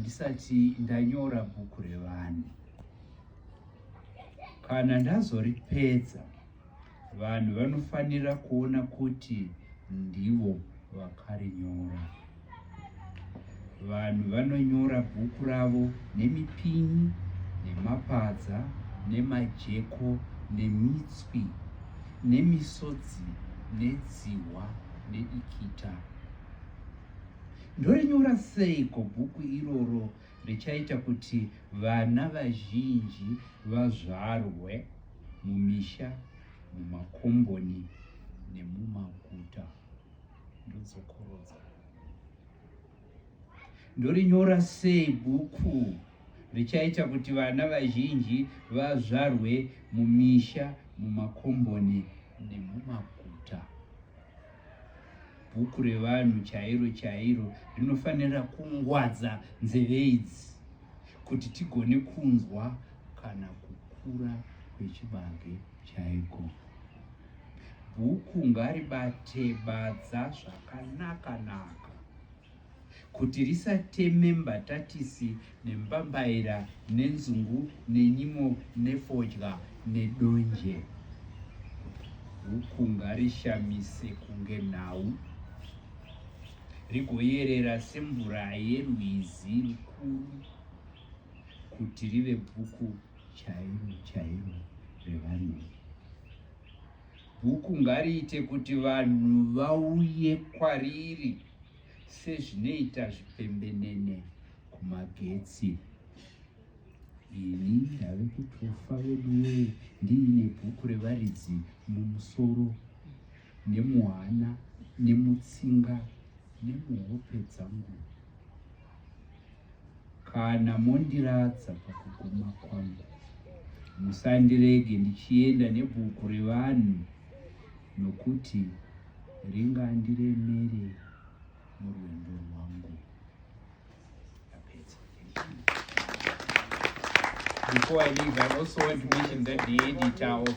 ndisati ndanyora bhuku revanhu kana ndazoripedza vanhu vanofanira kuona kuti ndivo vakarinyora vanhu vanonyora bhuku ravo nemipini nemapadza nemajeko nemitswi nemisodzi nedzihwa nedikita Ndorinyora seiko bhuku iroro richaita kuti vana vazhinji vazvarwe mumisha, mumakomboni nemumaguta? Ndodzokorodza. Ndorinyora sei bhuku richaita kuti vana vazhinji vazvarwe mumisha, mumakomboni nemumaguta? bhuku revanhu chairo chairo rinofanira kungwadza nzeve idzi kuti tigone kunzwa kana kukura kwechibage chaiko bhuku ngaribate badza zvakanaka naka kuti risateme mbatatisi nembambaira nenzungu nenyimo nefodya nedonje huku ngarishamise kunge nhau rigoyerera semvura yerwizi rukuru kuti rive bhuku chairo chairo revanhu bhuku ngariite kuti vanhu vauye kwariri sezvinoita zvipembenene kumagetsi ini ndave kutofa veduwe ndiine bhuku revaridzi mumusoro nemuhana nemutsinga nemuhope dzangu Kana mondiradza pakuguma kwangu, musandirege ndichienda nebhuku revanhu, nokuti ringandiremere murwendo rwangu. Before I leave, I also want to mention that the editor of